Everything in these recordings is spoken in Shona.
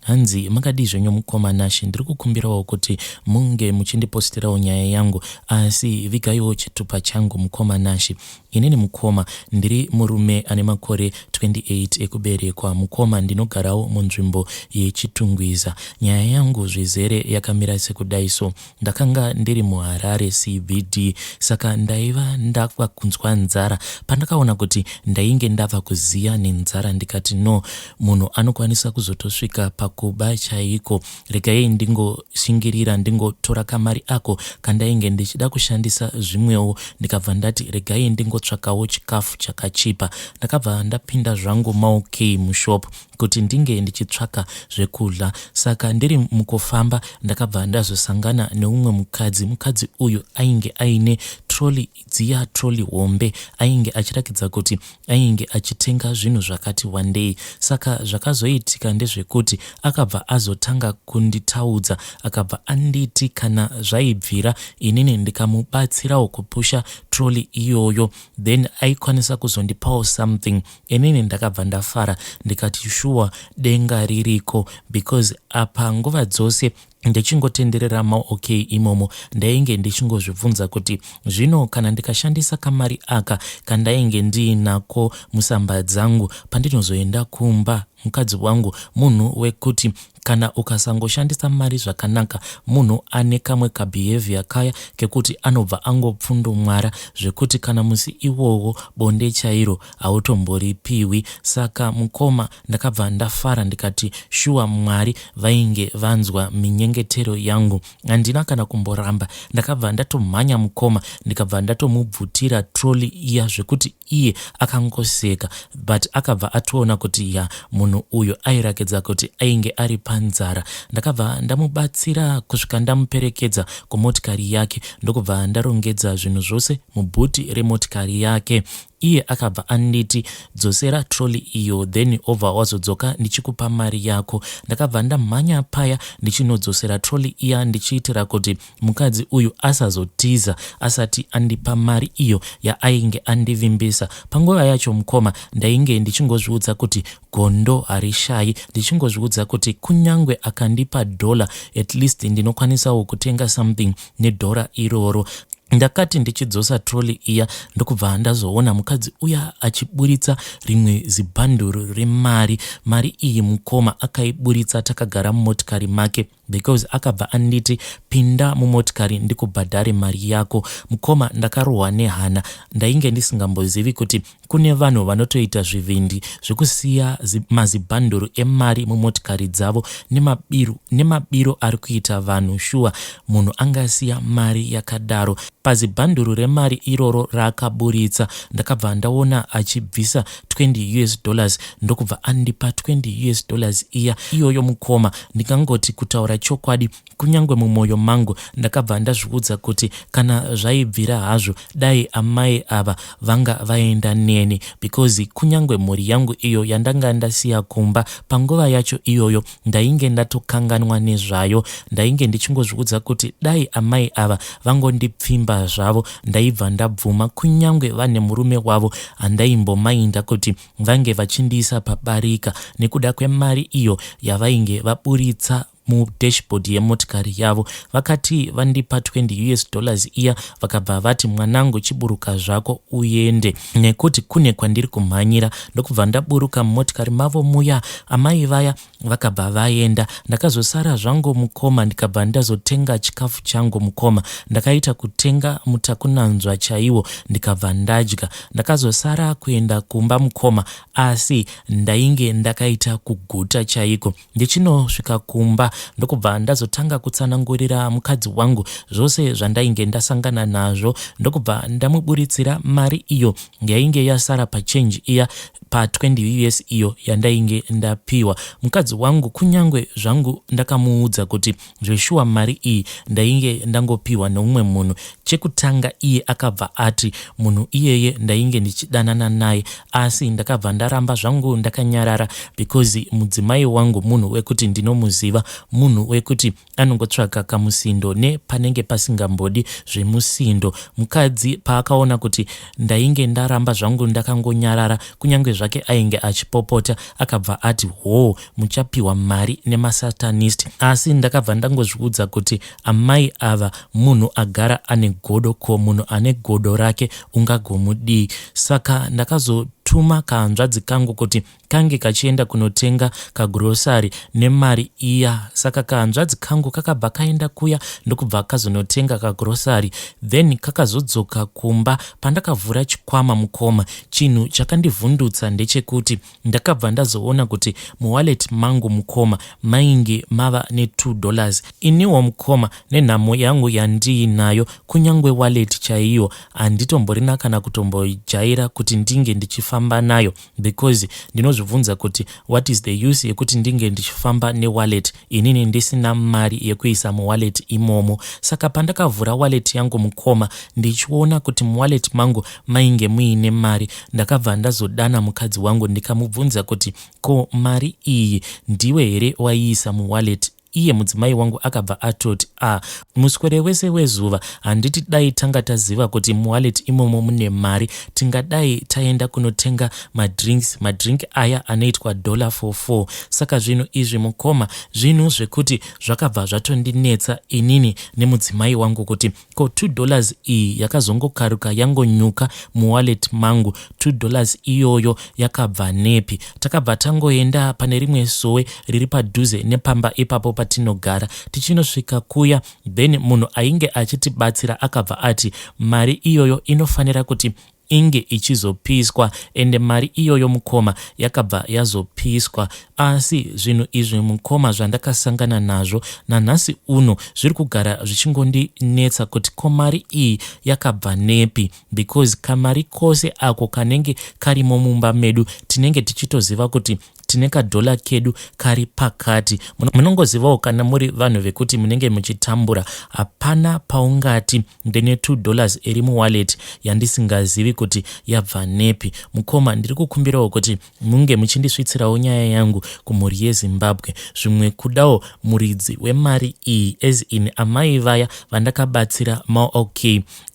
Hanzi makadii zvenyu mukoma Nashy ndiri kukumbirawo kuti munge muchindipostirawo nyaya yangu asi vigaiwo chitupa changu mukoma Nashy. Inini mukoma ndiri murume ane makore 28 ekuberekwa mukoma ndinogarawo munzvimbo yeChitungwiza. Nyaya yangu zvizere yakamira sekudai so Ndakanga ndiri muHarare CBD saka ndaiva ndava kunzwa nzara. Pandakaona kuti ndainge ndava kuziya nenzara ndikati no, munhu anokwanisa kuzotosvika pakuba chaiko. Regai ndingoshingirira ndingotora kamari ako kandainge ndichida kushandisa zvimwewo ndikabva ndati regai ndingotsvakawo chikafu chakachipa. Ndakabva ndapinda zvangu maOK mushop kuti ndinge ndichitsvaka zvekudya saka ndiri mukufamba ndakabva ndazosangana neumwe mukadzi mukadzi uyu ainge aine troli dziya troli hombe ainge achirakidza kuti ainge achitenga zvinhu zvakati wandei saka zvakazoitika ndezvekuti akabva azotanga kunditaudza akabva anditi kana zvaibvira inini ndikamubatsirawo kupusha troli iyoyo then aikwanisa kuzondipawo something Inini ndakabva ndafara ndikati shuwa denga ririko because apa nguva dzose ndichingotenderera maok imomo ndainge ndichingozvibvunza kuti zvino kana ndikashandisa kamari aka kandainge ndiinako musamba dzangu pandinozoenda kumba mukadzi wangu munhu wekuti kana ukasangoshandisa mari zvakanaka munhu ane kamwe kabehavior kaya kekuti anobva angopfundumwara zvekuti kana musi iwowo bonde chairo hautomboripiwi saka mukoma ndakabva ndafara ndikati shuwa Mwari vainge vanzwa minyengetero yangu handina kana kumboramba ndakabva ndatomhanya mukoma ndikabva ndatomubvutira trolley iya zvekuti iye akangoseka but akabva atoona kuti ya munhu uyu airakidza kuti ainge ari panzara ndakabva ndamubatsira kusvika ndamuperekedza kumotikari yake ndokubva ndarongedza zvinhu zvose mubhuti remotikari yake Iye akabva anditi dzosera trolley iyo then obva wazodzoka ndichikupa mari yako. Ndakabva ndamhanya paya ndichinodzosera trolley iya ndichiitira kuti mukadzi uyu asazotiza asati andipa mari iyo yaainge andivimbisa. Panguva yacho mukoma ndainge ndichingozviudza kuti Gondo harishayi ndichingozviudza kuti kunyangwe akandipa dollar at least ndinokwanisawo kutenga something nedollar iroro. Ndakati ndichidzosa trolley iya ndokubva ndazoona mukadzi uya achiburitsa rimwe zibhanduru remari. Mari iyi mukoma akaiburitsa takagara mumotikari make. because akabva anditi pinda mumotikari ndikubhadhare mari yako. Mukoma ndakarohwa nehana ndainge ndisingambozivi kuti kune vanhu vanotoita zvivindi zvekusiya mazibhanduru emari mumotikari dzavo nemabiru nemabiro ari kuita vanhu shuwa munhu angasiya mari yakadaro pazibhanduru remari iroro raakaburitsa ndakabva ndaona achibvisa 20 us dollars ndokubva andipa 20 us dollars iya iyoyo mukoma Ndikangoti kutaura chokwadi kunyange mumwoyo mangu ndakabva ndazviudza kuti kana zvaibvira hazvo dai amai ava vanga vaenda neni because kunyange mhuri yangu iyo yandanga ndasiya kumba panguva yacho iyoyo ndainge ndatokanganwa nezvayo. Ndainge ndichingozviudza kuti dai amai ava vangondipfimba zvavo ndaibva ndabvuma kunyange vane murume wavo handaimbomainda kuti vange vachindiisa pabarika nekuda kwemari iyo yavainge vaburitsa mudashboard yemotikari yavo vakati vandipa 20 us dollars iya vakabva vati mwanangu chiburuka zvako uende nekuti kune kwandiri kumhanyira ndokubva ndaburuka mumotikari mavo muya amai vaya vakabva vaenda ndakazosara zvangu mukoma ndikabva ndazotenga chikafu changu mukoma ndakaita kutenga mutakunanzva chaiwo ndikabva ndadya ndakazosara kuenda kumba mukoma asi ndainge ndakaita kuguta chaiko ndichinosvika kumba ndokubva ndazotanga kutsanangurira mukadzi wangu zvose zvandainge ndasangana nazvo ndokubva ndamuburitsira mari iyo yainge yasara pachange iya pa 20 years iyo yandainge ndapiwa mukadzi wangu kunyangwe zvangu ndakamuudza kuti zveshuwa mari iyi ndainge ndangopiwa neumwe munhu chekutanga iye akabva ati munhu iyeye ndainge ndichidanana naye asi ndakabva ndaramba zvangu ndakanyarara because mudzimai wangu munhu wekuti ndinomuziva munhu wekuti anongotsvaga kamusindo ne panenge pasingambodi zvemusindo mukadzi paakaona kuti ndainge ndaramba zvangu ndakangonyarara kunyange zvake ainge achipopota akabva ati hoo muchapiwa mari nemasatanist asi ndakabva ndangozviudza kuti amai ava munhu agara ane godo ko munhu ane godo rake ungagomudii saka ndakazotuma kahanzvadzi kangu kuti kange kachienda kunotenga kagrosari nemari iya saka kahanzvadzi kangu kakabva kaenda kuya ndokubva kazonotenga kagrosari then kakazodzoka kumba pandakavhura chikwama mukoma chinhu chakandivhundutsa ndechekuti ndakabva ndazoona kuti muwallet mangu mukoma mainge mava ne2 dollars iniwo mukoma nenhamo yangu yandiinayo kunyange wallet chaiyo handitomborina kana kutombojaira kuti ndinge ndichifamba nayo because ndinozvibvunza kuti what is the use yekuti ndinge ndichifamba newallet inini ndisina mari yekuisa muwallet imomo saka pandakavhura wallet yangu mukoma ndichiona kuti muwallet mangu mainge muine mari ndakabva ndazodana mukadzi wangu ndikamubvunza kuti ko mari iyi ndiwe here waiisa muwallet iye mudzimai wangu akabva atoti a ah, muswere wese wezuva handiti dai tanga taziva kuti muwallet imomo mune mari tingadai taenda kunotenga madrinks madrink aya anoitwa dollar for four saka zvinhu izvi mukoma zvinhu zvekuti zvakabva zvatondinetsa inini nemudzimai wangu kuti Ko two dollars iyi yakazongokaruka yangonyuka muwallet mangu two dollars iyoyo yakabva nepi. Takabva tangoenda pane rimwe sowe riri padhuze nepamba ipapo patinogara. Tichinosvika kuya then munhu ainge achitibatsira akabva ati mari iyoyo inofanira kuti inge ichizopiswa ende mari iyoyo mukoma yakabva yazopiswa asi zvinhu izvi mukoma zvandakasangana nazvo nanhasi uno zviri kugara zvichingondinetsa kuti ko mari iyi yakabva nepi because kamari kose ako kanenge karimo mumba medu tinenge tichitoziva kuti tine kadhola kedu kari pakati munongozivawo kana muri vanhu vekuti munenge muchitambura hapana paungati ndine two dollars iri muwallet yandisingazivi kuti yabva nepi mukoma ndiri kukumbirawo kuti munge muchindisvitsirawo nyaya yangu kumhuri yezimbabwe zvimwe kudawo muridzi wemari iyi as in amai vaya vandakabatsira maok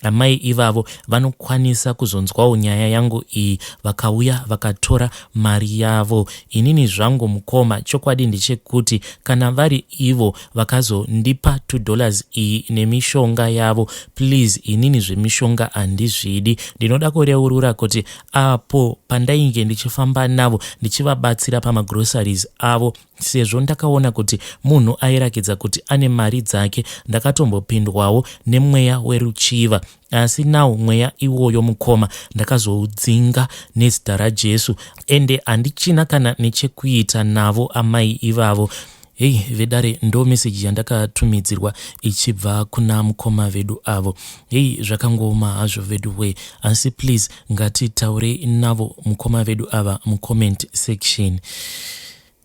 amai ivavo vanokwanisa kuzonzwawo nyaya yangu iyi vakauya vakatora mari yavo inini zvangu mukoma chokwadi ndechekuti kana vari ivo vakazondipa two dollars iyi nemishonga yavo please inini zvemishonga handizvidi ndinoda kureurura kuti apo pandainge ndichifamba navo ndichivabatsira pamagroceries avo sezvo ndakaona kuti munhu airakidza kuti ane mari dzake ndakatombopindwawo nemweya weruchiva asi nawo mweya iwoyo mukoma ndakazoudzinga nezita rajesu ende handichina kana nechekuita navo amai ivavo Hey vedare ndo message yandakatumidzirwa ichibva kuna mukoma vedu avo. Hey zvakangooma hazvo vedu way asi please ngatitaure navo mukoma vedu ava mucomment section.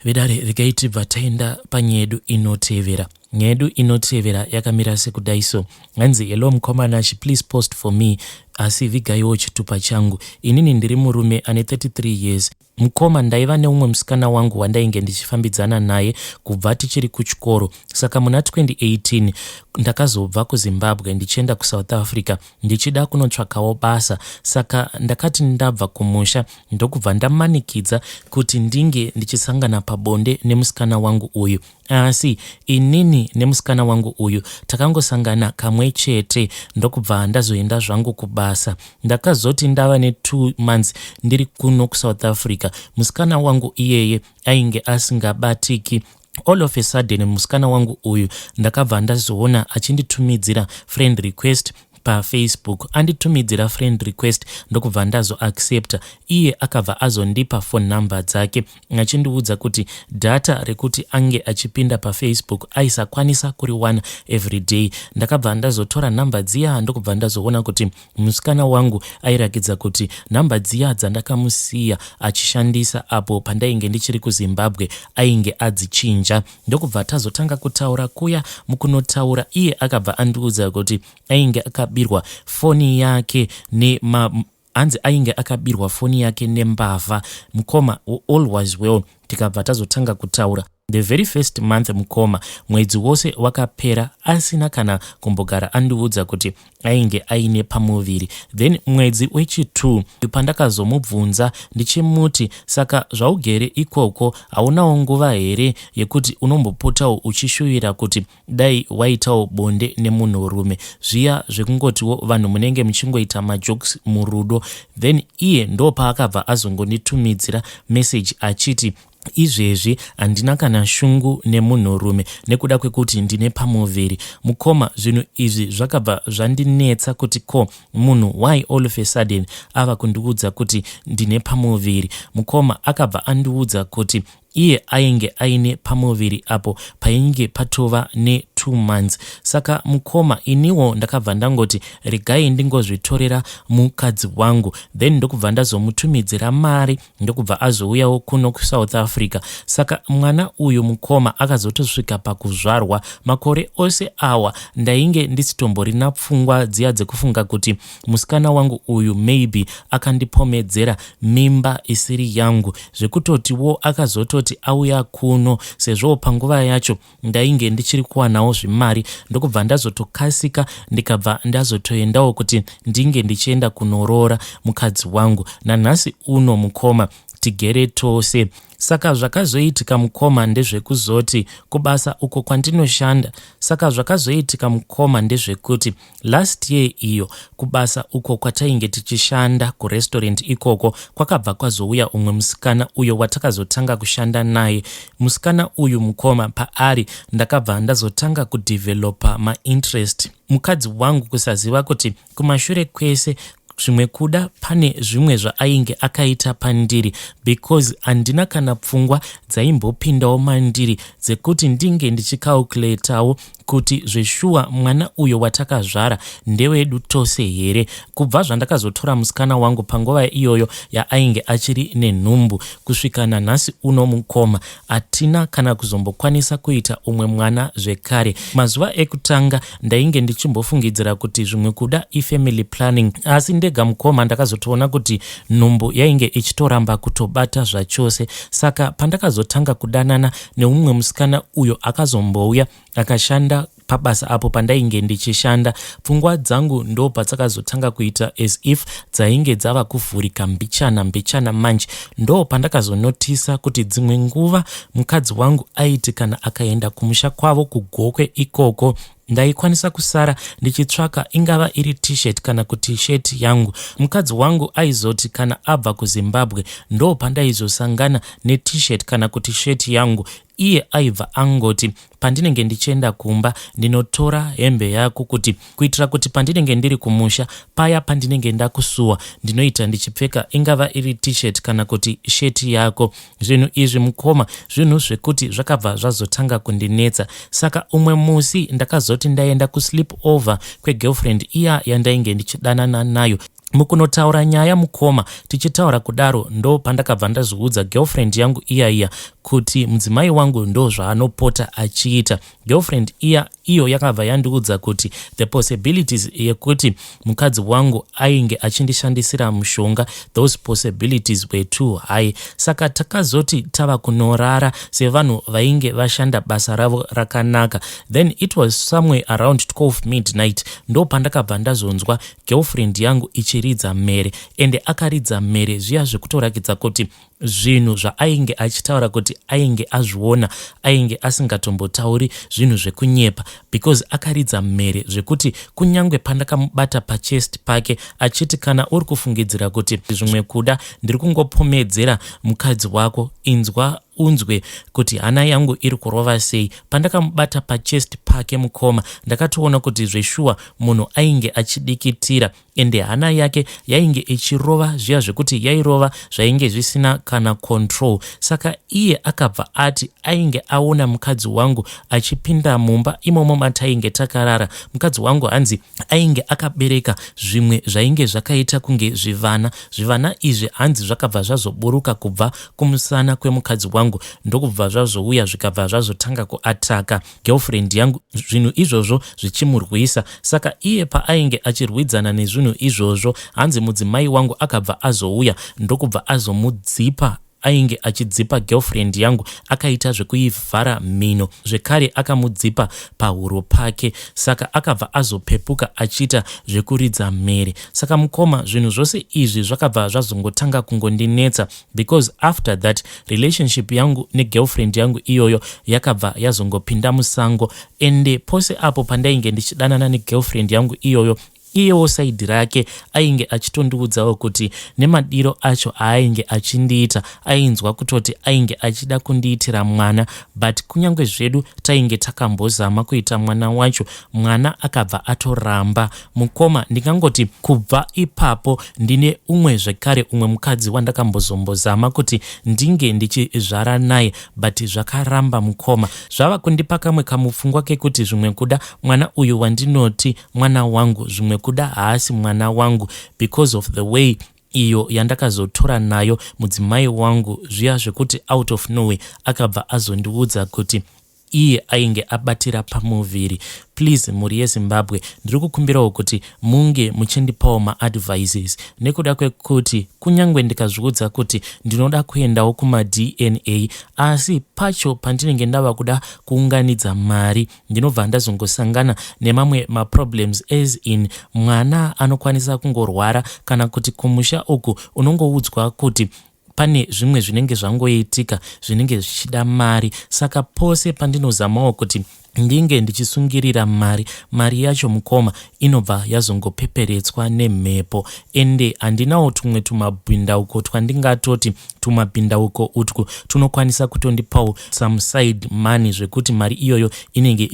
Vedare regai tibva taenda panyaya yedu inotevera. Nyaya yedu inotevera yakamira sekudai so. Hanzi hello mukoma Nash please post for me asi vigaiwo chitupa changu. Inini ndiri murume ane 33 years Mukoma ndaiva neumwe musikana wangu wandainge ndichifambidzana naye kubva tichiri kuchikoro saka muna 2018 ndakazobva kuZimbabwe ndichienda kuSouth Africa ndichida kunotsvakawo basa saka ndakati ndabva kumusha ndokubva ndamanikidza kuti ndinge ndichisangana pabonde nemusikana wangu uyu Asi inini nemusikana wangu uyu takangosangana kamwe chete ndokubva ndazoenda zvangu kubasa. Ndakazoti ndava ne two months ndiri kuno kuSouth Africa, musikana wangu iyeye ainge asingabatiki all of a sudden musikana wangu uyu ndakabva ndazoona achinditumidzira friend request pafacebook anditumidzira friend request ndokubva ndazoaccepta iye akabva azondipa phone number dzake achindiudza kuti data rekuti ange achipinda pafacebook aisakwanisa kuriwana everyday ndakabva ndazotora number dziya ndokubva ndazoona kuti musikana wangu airakidza kuti number dziya dzandakamusiya achishandisa apo pandainge ndichiri kuzimbabwe ainge adzichinja ndokubva tazotanga kutaura kuya mukunotaura iye akabva andiudza kuti ainge akabirwa foni yake nema hanzi ainge akabirwa foni yake nembavha mukoma all was well tikabva tazotanga kutaura the very first month mukoma mwedzi wose wakapera asina kana kumbogara andiudza kuti ainge aine pamuviri then mwedzi wechi2 pandakazomubvunza ndichimuti saka zvaugere ikoko haunawo nguva here yekuti unombopotawo uchishuvira kuti dai waitawo bonde nemunhurume zviya zvekungotiwo vanhu munenge muchingoita majokes murudo then iye ndopaakabva azongonditumidzira message achiti Izvezvi handina kana shungu nemunhurume nekuda kwekuti ndine pamuviri. Mukoma, zvinhu izvi zvakabva zvandinetsa kuti ko munhu why all of a sudden ava kundiudza kuti ndine pamuviri. Mukoma akabva andiudza kuti iye ainge aine pamuviri apo painge patova ne two months saka mukoma iniwo ndakabva ndangoti regai ndingozvitorera mukadzi wangu then ndokubva ndazomutumidzira mari ndokubva azouyawo kuno kusouth africa saka mwana uyu mukoma akazotosvika pakuzvarwa makore ose awa ndainge ndisitomborina pfungwa dziya dzekufunga kuti musikana wangu uyu maybe akandipomedzera mimba isiri yangu zvekutotiwo akazototi auya kuno sezvowo panguva yacho ndainge ndichiri kuwanawo zvimari ndokubva ndazotokasika ndikabva ndazotoendawo kuti ndinge ndichienda kunoroora mukadzi wangu nanhasi uno mukoma tigere tose saka zvakazoitika mukoma ndezvekuzoti kubasa uko kwandinoshanda saka zvakazoitika mukoma ndezvekuti Last year iyo kubasa uko kwatainge tichishanda kurestaurant ikoko kwakabva kwazouya umwe musikana uyo watakazotanga kushanda naye. Musikana uyu mukoma paari ndakabva ndazotanga kudevelopa mainterest. Mukadzi wangu kusaziva kuti kumashure kwese zvimwe kuda pane zvimwe zvaainge akaita pandiri because handina kana pfungwa dzaimbopindawo mandiri dzekuti ndinge ndichicalculatawo kuti zveshuwa mwana uyo watakazvara ndewedu tose here kubva zvandakazotora musikana wangu panguva iyoyo yaainge achiri nenhumbu kusvika nanhasi uno mukoma hatina kana kuzombokwanisa kuita umwe mwana zvekare mazuva ekutanga ndainge ndichimbofungidzira kuti zvimwe kuda ifamily planning asi ndega mukoma ndakazotoona kuti nhumbu yainge ichitoramba kutobata zvachose saka pandakazotanga kudanana neumwe musikana uyo akazombouya akashanda pabasa apo pandainge ndichishanda pfungwa dzangu ndo padzakazotanga kuita as if dzainge dzava kuvhurika mbichana mbichana manje ndo pandakazonotisa kuti dzimwe nguva mukadzi wangu aiti kana akaenda kumusha kwavo kugokwe ikoko Ndaikwanisa kusara ndichitsvaka ingava iri t-shirt kana kuti shirt yangu. Mukadzi wangu aizoti kana abva kuZimbabwe ndo pandaizosangana net-shirt kana kuti shirt yangu iye aibva angoti pandinenge ndichienda kumba ndinotora hembe yako kuti kuitira kuti pandinenge ndiri kumusha paya pandinenge ndakusuwa ndinoita ndichipfeka ingava iri t-shirt kana kuti shirt yako Zvinhu izvi mukoma zvinhu zvekuti zvakabva zvazotanga kundinetsa saka umwe musi ndakazoti ndaenda kusleep over kwegirlfriend iya yandainge ndichidanana nayo mukunotaura nyaya mukoma tichitaura kudaro ndo pandakabva ndazviudza girlfriend yangu iya iya kuti mudzimai wangu ndo zvaanopota achiita girlfriend iya iyo yakabva yandiudza kuti the possibilities yekuti mukadzi wangu ainge achindishandisira mushonga those possibilities were too high saka takazoti tava kunorara sevanhu vainge vashanda basa ravo rakanaka then it was somewhere around 12 midnight ndo pandakabva ndazonzwa girlfriend yangu ichiridza mhere ende akaridza mhere zviya zvekutorakidza kuti zvinhu zvaainge achitaura kuti ainge azviona ainge asingatombotauri zvinhu zvekunyepa because akaridza mhere zvekuti kunyange pandakamubata pachest pake achiti kana uri kufungidzira kuti zvimwe kuda ndiri kungopomedzera mukadzi wako inzwa unzwe kuti hana yangu iri kurova sei pandakamubata pachest pake mukoma ndakatoona kuti zveshuwa munhu ainge achidikitira ende hana yake yainge ichirova zviya zvekuti yairova zvainge zvisina kana control saka iye akabva ati ainge aona mukadzi wangu achipinda mumba imomo matainge takarara mukadzi wangu hanzi ainge akabereka zvimwe zvainge zvakaita kunge zvivana zvivana izvi hanzi zvakabva zvazoburuka kubva kumusana kwemukadzi wangu ndokubva zvazouya zvikabva zvazotanga kuataka girlfriend yangu zvinhu izvozvo zvichimurwisa saka iye paainge achirwidzana nezvinhu izvozvo hanzi mudzimai wangu akabva azouya ndokubva azomudzipa ainge achidzipa girlfriend yangu akaita zvekuivhara mhino zvekare akamudzipa pahuro pake saka akabva azopepuka achiita zvekuridza mhere saka mukoma zvinhu zvose izvi zvakabva zvazongotanga kungondinetsa because after that relationship yangu negirlfriend yangu iyoyo yakabva yazongopinda musango ende pose apo pandainge ndichidanana negirlfriend yangu iyoyo iyewo saidi rake ainge achitondiudzawo kuti nemadiro acho aainge achindiita ainzwa kutoti ainge achida kundiitira mwana but kunyange zvedu tainge takambozama kuita mwana wacho mwana akabva atoramba Mukoma ndingangoti kubva ipapo ndine umwe zvekare umwe mukadzi wandakambozombozama kuti ndinge ndichizvara naye but zvakaramba mukoma. Zvava kundipa kamwe kamupfungwa kekuti zvimwe kuda mwana uyu wandinoti mwana wangu zvimwe kuda haasi mwana wangu because of the way iyo yandakazotora nayo mudzimai wangu zviya zvekuti out of nowhere akabva azondiudza kuti iye ainge abatira pamuviri. Please mhuri yeZimbabwe ndiri kukumbirawo kuti munge muchindipawo maadvices nekuda kwekuti kunyange ndikazviudza kuti ndinoda kuendawo kumaDNA asi pacho pandinenge ndava kuda kuunganidza mari ndinobva ndazongosangana nemamwe maproblems as in mwana anokwanisa kungorwara kana kuti kumusha uku unongoudzwa kuti pane zvimwe zvinenge zvangoitika zvinenge zvichida mari saka pose pandinozamawo kuti ndinge ndichisungirira mari mari yacho mukoma inobva yazongopeperetswa nemhepo ende handinawo tumwe tumabhindauko twandingatoti tumabhindauko utwu tunokwanisa kutondipawo some side money zvekuti mari iyoyo inenge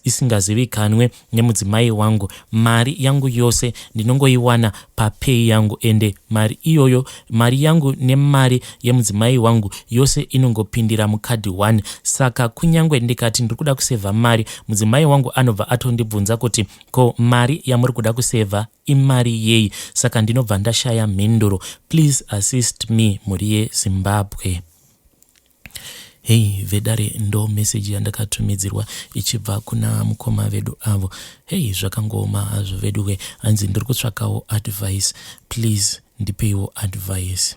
isingazivikanwe nemudzimai wangu mari yangu yose ndinongoiwana papay yangu ende mari iyoyo mari yangu nemari yemudzimai wangu yose inongopindira mukadhi 1 saka kunyange ndikati ndiri kuda kusevha mari mudzimai wangu anobva atondibvunza kuti ko mari yamuri kuda kusevha imari yei saka ndinobva ndashaya mhinduro please assist me mhuri yezimbabwe Hey vedare ndo message yandakatumidzirwa ichibva kuna mukoma vedu avo. Hey zvakangooma hazvo veduwe hanzi ndiri kutsvakawo advice please ndipeiwo advice.